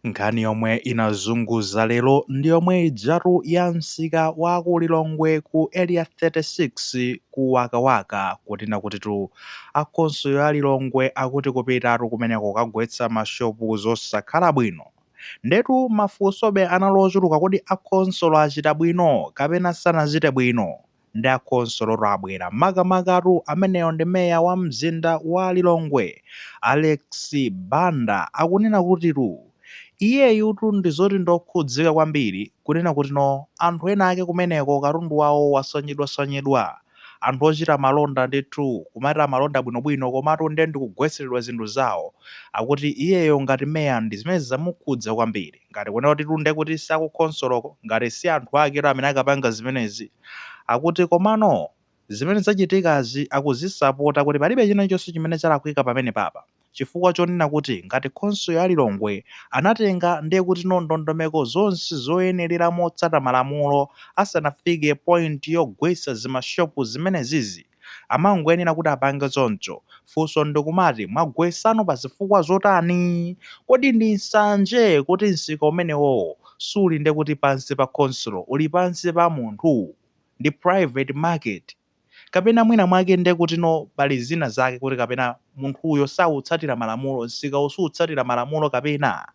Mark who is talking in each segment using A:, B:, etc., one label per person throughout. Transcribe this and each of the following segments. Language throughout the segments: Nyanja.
A: Nkhani yomwe inazunguza lero ndi yomwe ijatu ya msika wa ku Lilongwe ku Area 36 ku Wakawaka kunena kutitu a khonsolo ya Lilongwe akuti kupitatu kumeneko kukagwetsa ma shop zosakhala bwino. Ndetu mafunsobe anali ochuluka kodi a khonsolo achita bwino kapena sanachite bwino? Ndi a khonsolotu abwera, makamakatu amenewo ndi meya wa mzinda wa Lilongwe, Alex Banda akunena kutitu iyeyutu ndi zoti ndokhudzika kwambiri kunena kutino anthu ena ake kumeneko katundu wawo waphwanyidwaphwanyidwa, anthu ochita malonda ndithu kumati amalonda bwinobwino komatu nde ndikugwetseredwa zinthu zawo, akuti iyeyo ngati meya ndi zimenezi zamukhudza kwambir. Ngati kunena kutitu ndekuti si akukhonsoloko, ngati si anthu aketu amene akapanga zimenezi, akuti komano zimene zachitikazi akuzisapota kuti palibe china chonse chimene chalakwika pamenepapa chifukwa chonena kuti ngati khonsolo ya Lilongwe anatenga ndiye kutino ndondomeko zonse zoyenerera motsata malamulo asanafike point yogwetsa zimashopu zimenezizi. amangoyenera kuti apange choncho. Funso ndikumati mwagwetsano pa zifukwa zotani? Kodi ndi nsanje kuti msika umenewowo suli nde kuti pansi pa khonsolo uli pansi pa munthu? Ndi private market. Kapena mwina mwake nde kutino pali zina zake kuti kapena munthuyo sautsatira malamulo, msikawo suutsatira malamulo kapena?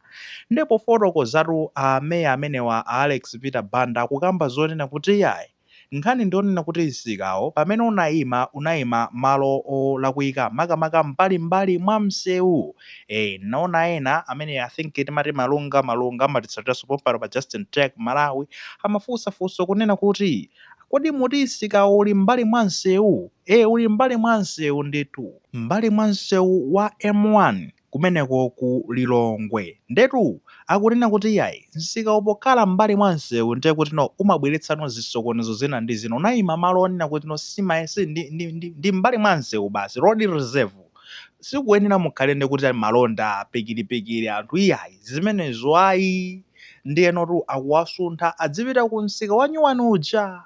A: Nde pofotokozatu a Meya amenewa a Alex Peter Banda akukamba zonena kuti iyayi, Nkhani ndi yonena kuti msikawo pamene unaima, unaima malo olakwika makamaka mbalimbali mwa mseu. Eeh nnaona ena amene I think timati Malunga, Malunga amatitsatiranso pompano pa Justin Tech Malawi amafunsa funso kunena kuti Kodi muti msikawo uli m'mbali mwa mseu? Eeh uli m'mbali mwa mseu ndithu. M'mbali mwa mseu wa M1. kumeneko ku Lilongwe ndetu akunena kuti iyayi msikawu pokhala m'mbali mwa msewu ndiye kutino umabweretsano zisokonezo zina ndi zina unayima malo onena kutino simaye si ndi, ndi, ndi, ndi m'mbali mwa msewu basi road reserve sikuyenera mukhale nde kuti malonda pikiripikiri anthu iyayi zimenezo ayi ndiyenotu akuwasuntha adzipita ku msika wanyuwani uja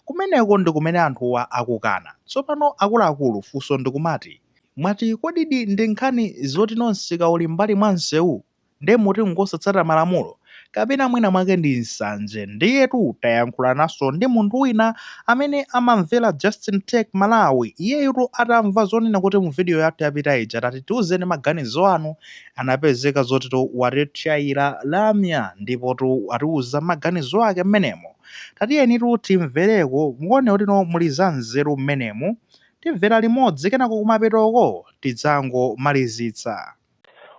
A: kumeneko ndi kumene anthuwa akukana tsopano akuluakulu funso ndikumati Mwati kodidi ndi nkhani zotino msika uli mbali mwa msewu nde muti ngosatsata malamulo? Kapena mwina mwake ndi nsanje? Ndiyetu tayankhulanaso ndi munthu wina amene amamvera Justin Tech Malawi, iyeyutu atamva zonena kuti mu video yathu yapita ija tati tiuzeni maganizo anu, anapezeka zotitu watitchayira lamya ndipotu watiuza maganizo ake mmenemo. Tatiyenitu timvereko muone kutino muli za nzeru mmenemu. Timvera limodzi kenako kumapetoko tidzangomalizitsa.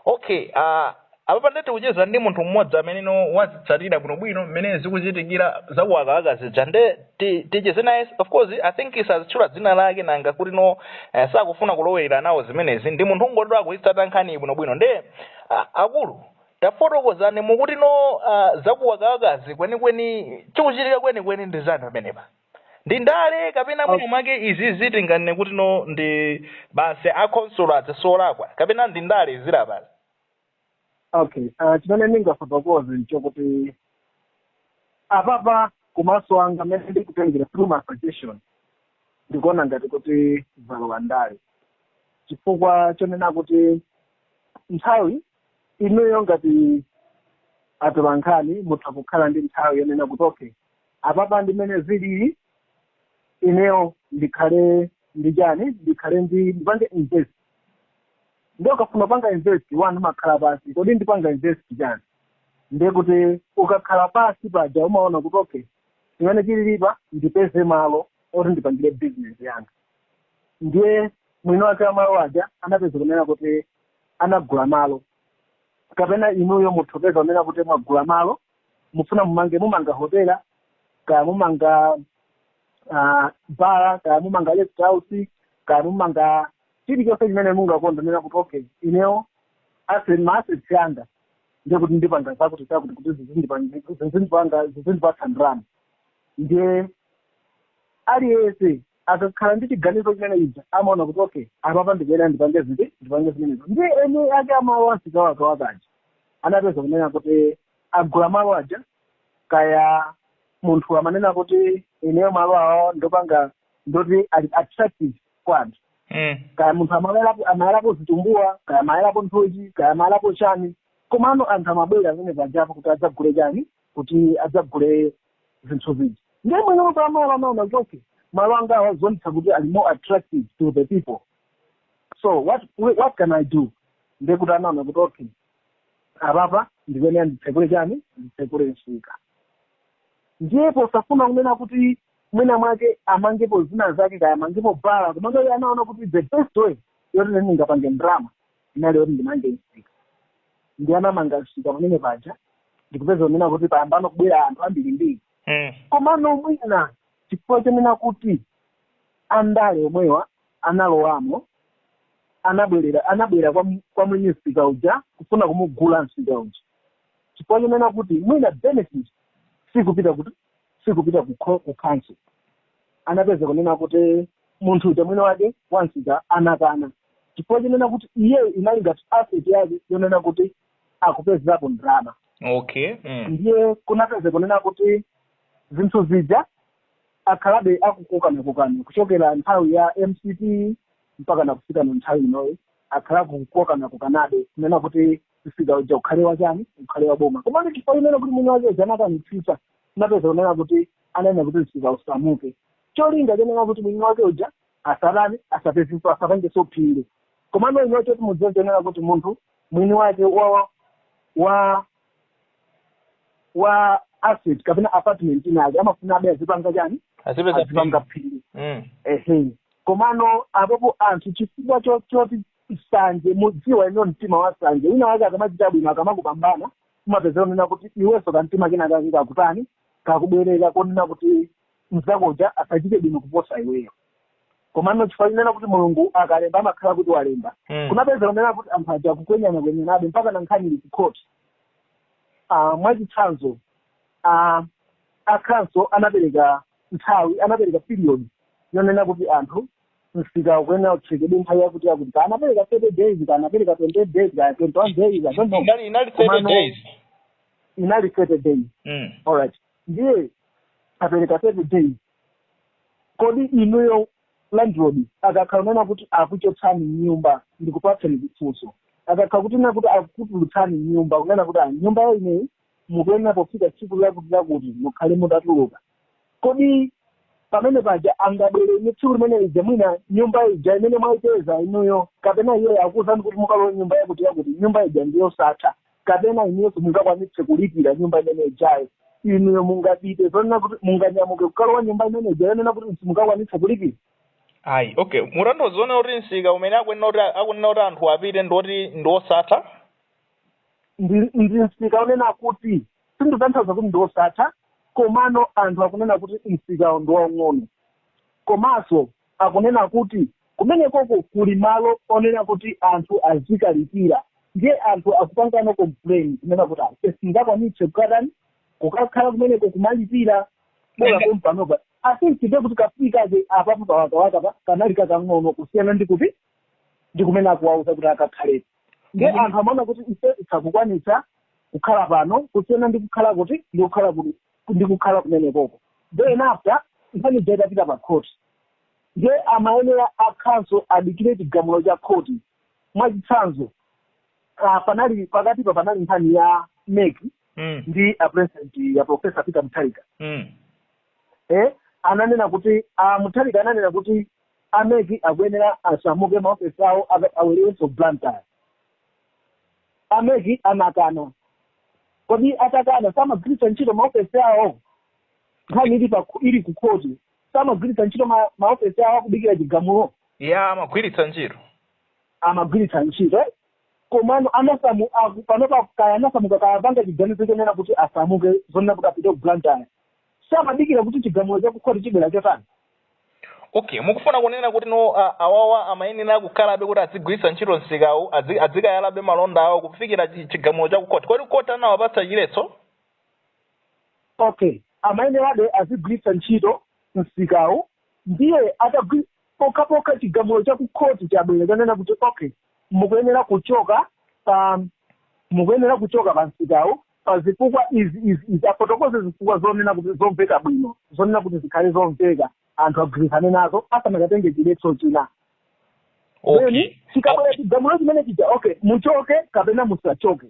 B: Ok, aah, apapa nde tikucheza ndi munthu mmodzi ameneno wazitsatira bwino bwino mmene zikuchitikira za ku Wakawaka zija nde ticheze naye of course I think sazitchula dzina lake nanga kutino eh, sakufuna kulowelera nawo zimenezi ndi munthu ongoti akuitsata nkhaniyi bwino bwino nde ah, akulu tafotokozani mukutino ah, za ku Wakawakazi kwenikweni chikuchitika kwenikweni ndi chani pamenepa? ndi ndale kapena mwina mwake izi zitinganene kuti no ndi basi akhonsolo ndi olakwa kapena ndi ndale zili apazi
C: okay uh, chimene ndingafotokoze nchokuti apapa kumaso anga mmene ndikutengera through my suggestion ndikuona ngati kuti zalowa ndale chifukwa chonena kuti nthawi inuyo ngati atolankhani mutha kukhala ndi nthawi yonena kuti okay apapa ndi mmene zilili ineyo ndikhale ndi chani ndikhale ndi ndipange invest ndiye ukafuna upanga invest anthu amakhala pansi kodi ndipanga invest chani ndiye kuti ukakhala pansi paja umaona kuti okay chimene chililipa ndipeze malo oti ndipangire business yanga ndiye mwini wake wa malo aja anapeza kunena kuti anagula malo kapena inuyo mutha kupeza kunena kuti mwagula malo mufuna mumange mumanga hotela kaya mumanga uh, bara kaya mumanga rest house kaya mumanga chilichonse chimene mungakonda kunena kuti okay ineyo asset maasset yanga ndiye kuti ndipanga zakuti zakuti kuti zizindipanga zizindipatsa ndalama ndiye aliyense akakhala ndi chiganizo chimene chija amaona kuti okay apapa ndikuyenera ndipange ziti ndipange zimenezo ndi eni ake amalo a msika wa Wakawaka aja anapeza kunena kuti agula malo aja kaya munthu amanena kuti ineyo malowa ndapanga ndoti ali attractive kwa anthu Mm. kaya munthu amayalapo amayalapo zitumbuwa kaya amayalapo nthochi kaya amayalapo chani komano anthu amabwera pamene pajapo kuti adzagule chani kuti adzagule zinthu zija ndiye mwini wake wamalo anaona kuti okay malo angawa zikuonetsa kuti ali more attractive to the people so what what can i do ndiye kuti anaona kuti okay apapa ndikuyenera nditsekule chani nditsekule msika ndiye posafuna kunena kuti mwina mwake amangepo zina zake kaya amangepo bala komano iye anaona kuti the best way yoti ine ndingapange ndrama inali yoti ndimange msika ndiye anamanga msika pamene paja ndikupeza kunena kuti payambano kubwera anthu ambirimbiri Mm. komano mwina chifukwa chonena kuti andale omwewa analowamo anabwera anabwera kwa mu- kwa mwini msika uja kufuna kumugula msika uja chifukwa chonena kuti mwina benefit sikupita kuti sikupita ku kho- ku council anapeza kunena kuti munthu uja mwini wake wansika anakana chifukwa chonena kuti iyeyo inali ngati asset yake yonena kuti akupezerapo ndalama okay
B: mm.
C: ndiye kunapeza kunena kuti zinthu zija akhalabe akukokanakokana kuchokera nthawi ya mcp mpaka nakufika na nthawi inoyi akhala kukokanakokanabe kunena kuti msika uja ukhale wachani ukhale wa boma komano chifukwa chonena kuti mwini wake uja anakanitsitsa napeza kunena kuti ananena kuti msika usamuke cholinga chonena kuti mwini wake uja asatani asapezinso asapangenso phindu komano ino choti mudziwe chonena kuti munthu mwini wake wa wa wa asset kapena apartment inake amafuna abe azipanga chani azipeza azipanga phindu mm. ehe komano apopo anthu chifukwa cho- choti nsanje mukudziwa inu mtima wa nsanje wina wake akamachita bwino akamakupambana umapeza kunena kuti iwenso kamtima kena kake kakutani kakubwerera konena kuti mzakoja asachite bwino kuposa iweyo komano chifukwa chonena kuti mulungu akalemba amakhala kuti walemba Mm. kunapeza kunena kuti anthu aja kukwenyana kwenyanabe mpaka na nkhani ili kukhoti Ah, mwachitsanzo ah, a khonsolo anapereka nthawi anapereka period yonena kuti anthu msika ukuyenera utsekedwe nthawi yakuti yakuti kana anapereka 30 days kana anapereka 28 days kana 21 days i don't know inali inali 30 Komano-
B: days inali
C: 30 days mm. alright ndiye apereka 30 days kodi inuyo landlord akakhala kunena kuti akuchotsani mnyumba ndikupatseni chifunso akakhala kunena kuti akutulutsani mnyumba kunena kuti "Ah, nyumba yo ineyi mukuyenera pofika tsiku lakuti lakuti mukhale mutatuluka kodi pamene paja angabwere ndi tsiku limene lija mwina nyumba ija imene mwaipeza inuyo kapena iye akuwuzani kuti mukalowe nyumba yakuti yakuti nyumba ija ndiyosatha kapena inuyo simungakwanitse kulipira nyumba imene ijayo inuyo mungapite zonena kuti munganyamuke kukalowa nyumba imene ija yonena kuti simungakwanitse kulipira ayi okay
B: mutanthauza kuti msika umene akunena kuti akunena kuti anthu apite ndiwoti ndiwosatha ndi, ndi msika
C: onena kuti sindikutanthauza kuti ndi osatha komano anthu akunena kuti msikawo ndi waung'ono komanso akunena kuti kumenekoko kuli malo onena kuti anthu azikalipira ndiye anthu akupanga complain kunena kuti ase singakwanitse kukatani kukakhala kumeneko kumalipira bola Ende- pompanopa kusiyana kuti kamsika apapo pawakawaka pa kanali kakang'ono kusiyana ndi kuti ndi kumene akuwauza kuti akakhale nde Mhm. anthu amaona kuti ife sakukwanitsa kukhala pano kusiyana ndi kukhala kuti ndi kukhala kuti ndi kukhala kumenekoko then after nkhani ija itapita pa khoti nde amayenera akhanso adikire chigamulo cha khoti mwachitsanzo ah, panali pakatipa panali nkhani ya mek Mm. ndi a president ya professor peter mutharika Mm. eh, ananena kuti uh, mutharika ananena kuti A mec akuyenera asamuke ma office awo abwererenso ku Blantyre. A mec anakana. Kodi atakana samagwiritsa ntchito ma office awo? Nkhani ili pa ili ku court samagwiritsa ntchito ma, ma office awo akudikira chigamulo? Eya amagwiritsa ntchito. Amagwiritsa ntchito eh? Komano anasamu aku, panopa kaya anasamuka kaya apanga chiganizo chonena kuti asamuke zonena kuti apite ku Blantyre. samadikira kuti chigamulo cha kukhoti chibwera chotani
B: okay mukufuna kunena kuti no a- awawa amayenera kukhalabe kuti azigwiritsa ntchito msikawu azi- azikayalabe malonda awo kufikira chi- chigamulo cha kukhoti kodi khoti anawapatsa chiletso
C: okay amayenerabe azigwiritsa ntchito msikawu ndiye atagwi pokhapokha chigamulo cha kukhoti chabwera chanena kuti okay mukuyenera kuchoka pa mukuyenera kuchoka pa msikawu pa zifukwa izi izi izi afotokoze zifukwa zonena kuti zomveka bwino zonena kuti zikhale zomveka anthu agwirizane nazo asanakatenge chiletso china okay then chikabwera chigamulo chimene chija
B: okay
C: muchoke kapena musachoke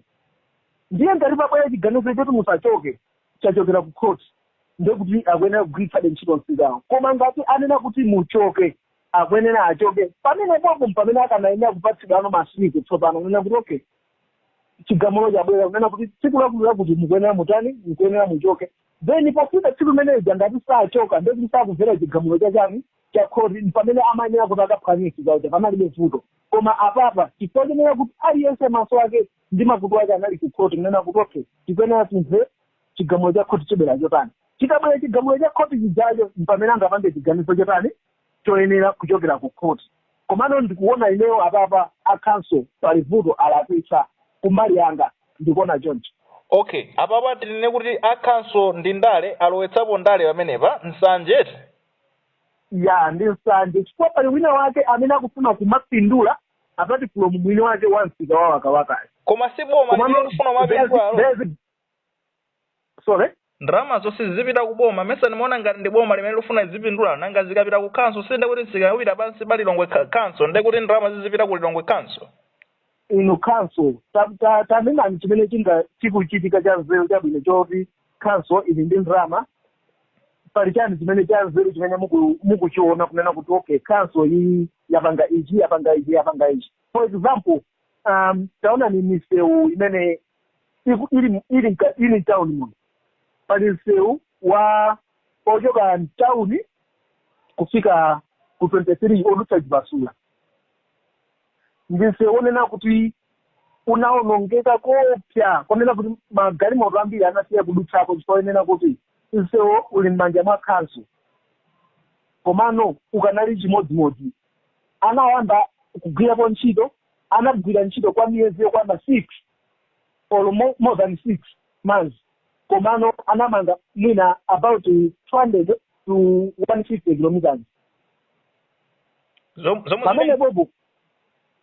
C: ndiye ngati pabwera chiganizo choti musachoke chachokera ku court ndekuti akuyenera kugwiritsabe ntchito msikawo koma ngati anena kuti muchoke akuyenera achoke pamene popo mpamene akanayenera kupatsidwano masiku tsopano kunena kuti okay chigamulo chabwera kunena kuti tsiku lakuti lakuti mukuyenera mutani mukuyenera muchoke then pofika tsiku limeneja ngati sachoka ndekuti sakuvera chigamulo chachani cha khoti mpamene amayenera kuti akaphwanyisi zaocha panalibe vuto koma apapa chifukwa chonena kuti aliyense maso ake ndi makutu ake anali ku khoti kunena kuti okay tikuyenera timve chigamulo cha khoti chibwera chotani chikabwera chigamulo cha khoti chijacho mpamene angapange chiganizo chotani choyenera kuchokera ku khoti komano ndikuona ineyo apapa a council pali vuto alakwitsa kumbali yanga ndikuona choncho. Ok apapa
B: tinene kuti a council ndi ndale alowetsapo ndale pamenepa nsanje eti?
C: Ya ndi nsanje chifukwa pali wina wake amene akufuna kumapindula apart from mwini wake wa msika wa Wakawakayo Koma si boma limene komano
B: likufuna kumapindulalo? there's, there's,
C: sorry
B: ndalama zonse zizipita ku boma mesa ndimaona ngati ndi boma limene lifuna zipindula nanga zikapita ku khanso si nde kuti zikagwira pansi pa lilongwe khanso nde kuti ndalama zizipita ku lilongwe khanso inu
C: council Ta- ta- tanenani chimene chikuchitika cha nzeru chabwino choti council ili ndi ndalama pali chani chimene cha nzeru chimene muku- mukuchiona kunena kuti okay council iyi yapanga ichi yapanga ichi yapanga ichi for example um, taonani misewu imene iku- ili mu- ili mka- ili mtawuni muno pali msewu wa ochoka mtawuni kufika ku 23 odutsa chipasula ndi msewu onena kuti unaonongeka koopsa konena kuti magalimoto ambiri anasiya kudutsako chifukwa onena kuti msewu uli m'manja mwa khanso komano ukanali chimodzimodzi anayamba kugwirapo ntchito anagwira ntchito kwa miyezi yokwana six or mo- more than six months komano anamanga mwina about 200 to 150 kilometers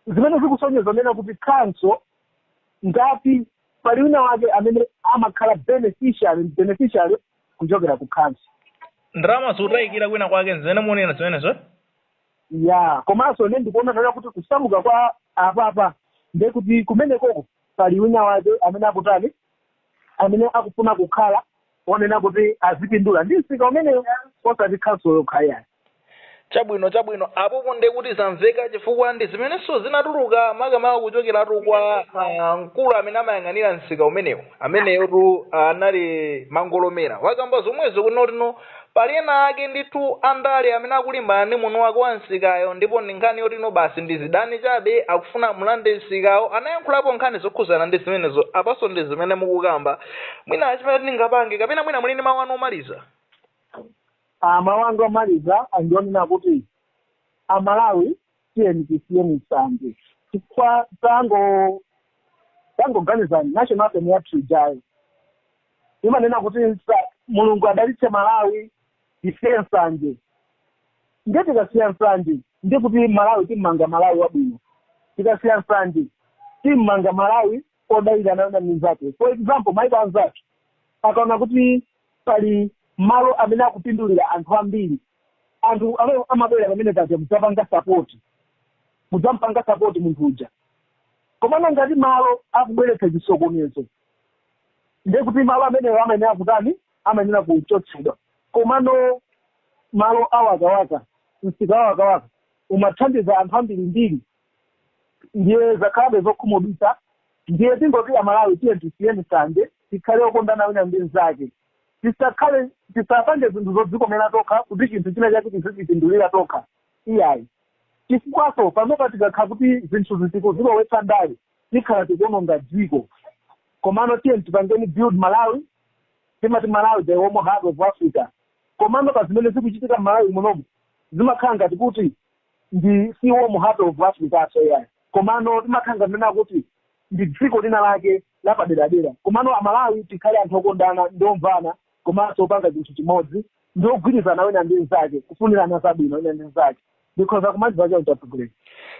C: zimene zikusonyeza nena kuti khanso ngati pali wina wake amene amakhala beneficiary beneficiary kuchokera ku khanso ndalama
B: zotayikira kwina kwake nzimene mukunena zimenezo
C: ya komanso ine ndikuona nena kuti kusamuka kwa apapa nde kuti kumenekoko pali wina wake amene akutani amene akufuna kukhala onena kuti azipindula ndi msika umenewo osati khanso yokha ayi
B: chabwino chabwino apopo nde kuti zamveka chifukwa ndi zimenenso zinatuluka makamaka kuchokeratu kwa ah, mkulu amene amayang'anira msika umenewo ameneyotu anali mangolomera wakamba zomwezo kunena kuti Pali ena ake ndithu andale amene akulimbana ndi mwini wake wa msikayo ndipo ndi nkhani yoti ino basi ndi zidani chabe akufuna amulande msikawo anayankhulapo nkhani zokhuzana ndi zimenezo apanso ndi zimene mukukamba mwina chimene tingapange kapena mwina muli ndi mawu anu
C: omaliza Ah, mawu anga omaliza ndi onena kuti amalawi tiyeni tisiyeni nsanje chifukwa tango tangoganizani national anthem yathu ijayo imanena kuti nsa- mulungu adalitse malawi tisiye nsanje nde tikasiya nsanje ndi kuti malawi timmanga malawi wabwino tikasiya nsanje timmanga malawi odalirana wina ndi mnzathu for example maiko anzathu akaona kuti pali malo amene akupindulira anthu ambiri anthu amene amabwera pamene paja mudzapanga sapoti mudzampanga sapoti munthu uja komano ngati malo akubweretsa chisokonezo ndiye kuti malo amenewo amayenera kutani amayenera kuchotsedwa komano malo a Wakawaka msika wa Wakawaka umathandiza anthu ambirimbiri ndiye zakhalabe zokhumudwitsa ndiye tingoti amalawi tiyeni tisiyeni nsanje tikhale okondana wina ndi mnzake tisakhale tisapange zinthu zodzikomera tokha kuti chinthu china chake tizichipindulira tokha iyayi chifukwanso pamene tikakhala kuti zinthu tikuzilowetsa ndale tikhala tikuononga dziko komano tiyeni tipangeni build malawi timati malawi the warm heart of africa komano pa zimene zikuchitika mmalawi munomu zimakhala ngati kuti ndi si warm heart of africaso iyayi. komano timakhala ngati kunena kuti ndi dziko lina lake lapaderadera komano amalawi tikhale anthu okondana ndi omvana komanso opanga chinthu chimodzi ndi ogwirizana wina ndi mnzake kufunirana zabwino wina ndi mnzake ndikhoza kumaliza choncho atsogoleri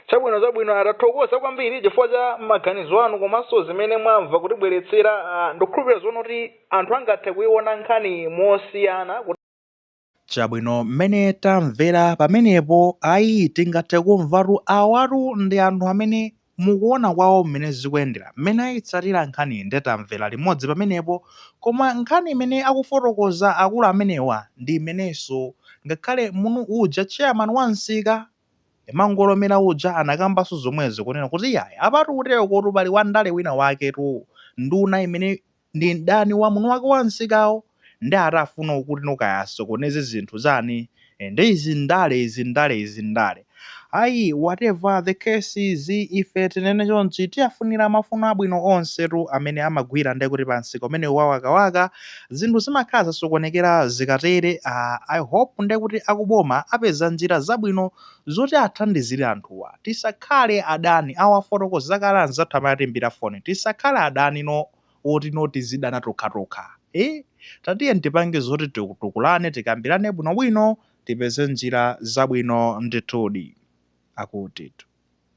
C: chabwino chabwino
B: atathokoza kwambiri chifukwa cha maganizo anu komanso zimene mwamva kutibweretsera ah, ndikukhulupirira zonena kuti anthu angathe kuiona nkhani mosiyana
A: chabwino mmene tamvera pamenepo ayi tingathe kumvatu awatu ndi anthu amene akuona kwawo mmene zikuyendera, mmene ayitsatira nkhaniyi nde tamvera limodzi pamenepo koma nkhani imene akufotokoza akulu amenewa ndi imenenso ngakhale munthu uja chairman wa msika Mangolomera uja anakambanso zomwezo kunena kuti iyayi apatu kuterokotu pali wandale wina waketu nduna imene ndi mdani wa mwini wake wa msikawo nde ati afuna kuti no kaya asokoneze zinthu zani nde izi ndale izi ndale izi ndale ayi whatever the case is ife tinene chonchi tiafunira mafuno abwino onsetu amene amagwira nde kuti pa msika umenewu wa Wakawaka zinthu zimakhala zasokonekera zikatere aah i hope nde kuti akuboma apeza njira zabwino zoti athandizire anthuwa tisakhale adani awa afotokoza kale anzathu amene atiimbira foni tisakhale adani no oti no tizidana tokhatokha ee tatiyeni tipange zoti titukulane tikambirane bwinobwino tipeze njira zabwino ndithudi akutitu